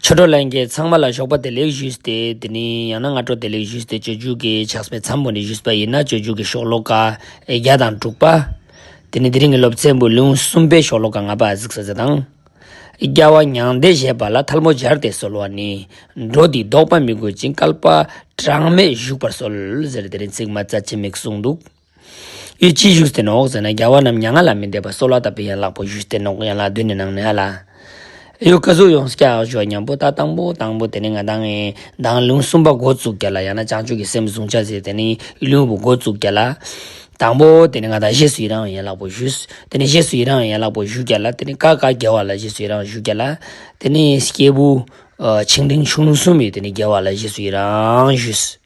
ཆོས་བགྲོ་གླེང་གི་ཚང་མ་ལ་ཞོགས་པ་བདེ་ལེགས་ཞུས་ཏེ་དེ་ནས་ཡང་ན་སྔ་དྲོ་བདེ་ལེགས་ཞུས་ཏེ་སྤྱོད་འཇུག་གི་ཕྱག་སྨེ་མཚམས་བུ་ནས་ཞུས་པ་ཡིན་ན་སྤྱོད་འཇུག་གི་ཤོག་ལོ་ཀ་བརྒྱ་དང་དྲུག་པ། དེ་ནས་དེ་རིང་གི་སློབ་ཚན་བུ་ལོན་གསུམ་པའི་ཤོག་ལོ་ཀ་ལྔ་པ་གཟིགས་ས་ཟེར་དང། རྒྱལ་བ་མྱང་འདས་བཞད་པ་ལ་ཐལ་མོ་སྦྱར་ཏེ་གསོལ་བ་ནི། འགྲོ་འདིས་བཟློག་པ་མི་དགོས་ཅིང་བསྐལ་པ་གྲངས་མེད་བཞུགས་པར་གསོལ་ཟེར་དེ་རིང་ཚིག་མ་རྩ་ཆེ་མིག་གསུངས་འདུག། ཨི་ཅི་བཞུགས་སྟེ་ནོག་ཟེར་ན་རྒྱལ་བ་རྣམས་མྱ་ངན་ལ་མི་འདས་པར་གསོལ་བ་བཏབ་པས་ཡན་ལག་པོ་བཞུགས་སྟེ་ནོག་ཡན་ལག་བདུན་ནི་ནང་ནས་ཨ་ལ། ཨེའུ་ཀ་གཟུགས་ཡོངས་སུ་སྐྱ་བཞུགས་ཨ་མྱང་པོ་ད་དང་པོ་དང་པོ་དེ་ནི་ང་བདག་ངའི་བདག་ལུང་གསུམ་པ་མགོ་བཙུགས་རྒྱ་ལ་ཡང་ན་བྱང་ཆུབ་ཀྱི་སེམས་གཟུང་བྱ་ཟེར་དེ་ནི་ལུས་པོ་མགོ་བཙུགས་རྒྱ་ལ། དང་པོ་དེ་ནི་ང་བདག་བཞེས་སུ་ཡི་རང་བའི་ཡན་ལག་པོ་བཞུགས། དེ་ནི་བཞེས་སུ་ཡི་རང་བའི་ཡན་ལག་པོ་བཞུགས་རྒྱ་ལ་དེ་ནི་ཀ་ཀ་རྒྱལ་བ་ལ་བཞེས་སུ་ཡི་རང་བཞུགས་རྒྱ་ལ། དེ་ནི་སྐྱེས་བུ། ཆིག་འབྲིང་ཆུང་ལུགས་གསུམ་པའི་དེ་ནི་རྒྱལ་བ་ལ་བཞེས་སུ་ཡི་རང་བཞུགས།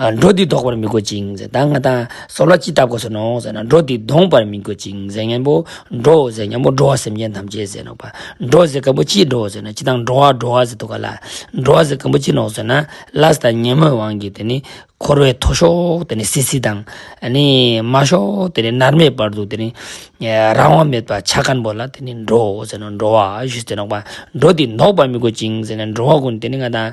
འགྲོ་འདི་ལྡོག་པར་མི་དགོས་ཅིང་ཟེར་ད་ང་དང་ཟོག་ལ་ཅི་ལྟ་དགོས་ཟེར་ནོ་ཟེར་ན་འགྲོ་འདི་ལྡོངས་པར་མི་དགོས་ཅིང་ཟེར་སྙན་པོ་འགྲོ་འོ་ཟེར་སྙན་པོ་འགྲོ་བ་སེམས་ཅན་ཐམས་ཅད་ཟེར་ནོ་བ་འགྲོ་ཟེར་སྐམ་པོ་ཅི་འགྲོ་ཟེར་ན་ཅི་དང་འགྲོ་བ་འགྲོ་བ་ཟེར་དུ་ག་ལ་འགྲོ་བ་ཟེར་སྐམ་པོ་ཅི་ནོ་ཟེར་ན་ལཱས་དང་སྙན་མོའི་དབང་གིས་དེ་ནི་འཁོར་བའི་མཐོ་ཤོག་དེ་ནི་སིལ་སིལ་དང་ནི་དམའ་ཤོག་དེ་ནི་ནར་མའི་བར་དུ་དེ་ནི་རང་དབང་མེད་པར་ཆ་སྐམ་པོ་ལ་དེ་ནི་འགྲོ་འོ་ཟེར་ན་འགྲོ་བ་ཞེས་ཟེར་ནོ་བ་འགྲོ་འདི་ལྡོག་པར་མི་དགོས་ཅིང་ཟེར་ན་འགྲོ་བ་ཀུན་དེ་ནི་ང་དང།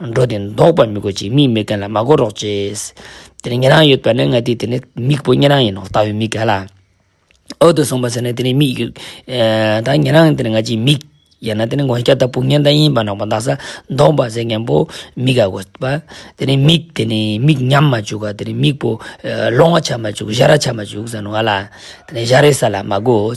འགྲོ་དེ་འདོགས་པར་མི་དགོས་ཅིག་མིག་མི་གན་ལ་མ་གོ་རོགས་ཅེས། དེ་ནི་ཉན་རང་ཡོད་པས་ན་ང་དེ་དེ་ནི་མིག་བུ་ཉན་རང་ཡིན་ནོ་ལྟ་བུའི་མིག་གན་ལ། འོད་དུ་སོང་བ་ཟེར་ནས་དེ་ནི་མིག་ཡོད། ད་ཉན་རང་དེ་ནི་ང་ཅིའི་མིག། ཡང་ན་དེ་ནི་ངོ་སྐྱ་དང་སྤུ་ངན་དང་གཡིན་པ་ནག་པོ་འདག་ས་འདོགས་པ་ཟེར་མཁན་པོ་མི་ག་གོ་བ། དེ་ནི་མིག་དེ་ནི་མིག་ཉམས་མ་བཅུག་ག་དེ་ནི་མིག་བུ། ལོང་བ་ཆགས་མ་བཅུག་གཞའ་ར་ཆགས་མ་བཅུག་ཟེར་ནོ་ང་ལ། དེ་ནི་གཞའ་རའི་ས་ལ་མ་གོ།